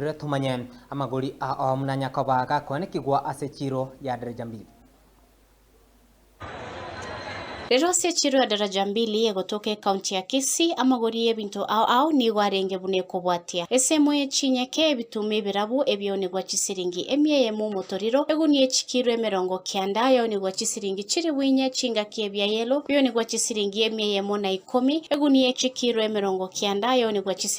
Rore tomanye, amagori a Oamu na Nyakoba gakoanekigwa ase echiro ya daraja mbili. Rero ase echiro ya daraja mbili egotoka ecounty ya Kisii, amagori y'ebinto ao ao nigo arenge buna ekobwatia, esemo ye chinyeke, ebituma ebirabu ebiounigwa chisiringi emia eyemo omotoriro, egunia echikiro emerongo kianda yaunigwa chisiringi chilifu inye, chingaki ebia yellow biounigwa chisiringi emia eyemo na ikomi, egunia echikiro emerongo kianda yaunigwa chisiringi.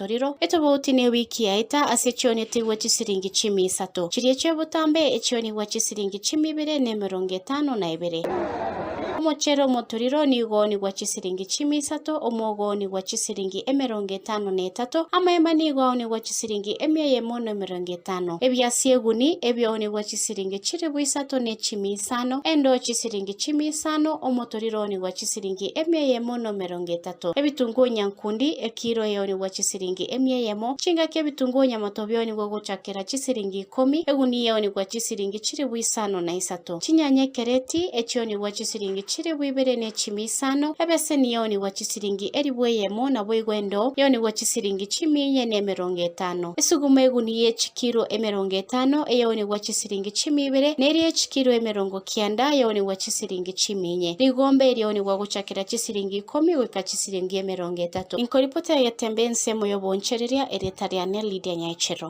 chitorero etobauti newiki yaeta ase chionetigwe chisiringi chiumi isato, chiria chiobotambe echionigwa chisiringi chiumi ibere nemerongo etano na ebere. Omochere omotoriro nigoonigwa chisiringi chiumi isato, omogoonigwa chisiringi emerongo etano na etato, amaema nigo aonigwa chisiringi emia eyemo nemerongo etano, ebiasi eguni ebiaonigwa chisiringi chilifu isato ne chiumi isano, endoo chisiringi chiumi isano, omotoriro oonigwa chisiringi emia eyemo nemerongo etato. ebisato, ebitunguo nyankundi, ekiro eonigwa chisiringi emia eyemo, chingaki ebitunguo nyamoto bionigwe gochakera chisiringi ikomi, egunia eonigwa chisiringi chilifu isano na isato, chinyanya ekereti, echionigwa chisiringi chilifu ibere ne chimi isano, ebeseni eonigwa chisiringi elifu eyemo, naboigo endoo eonigwa chisiringi chimi enye ne emerongo etano. Esuguma egunia ye chikiro emerongo etano, eonigwa chisiringi chimi ibere, ne eria ye chikiro emerongo kianda, eonigwa chisiringi chimi enye. Rigombe erionigwa gochakera chisiringi chisiringi ikomi goika chisiringi emerongo etato. Inkoripoti egetembe ensemo y'oboonchereria, erieta riane Lydia Nyaechero.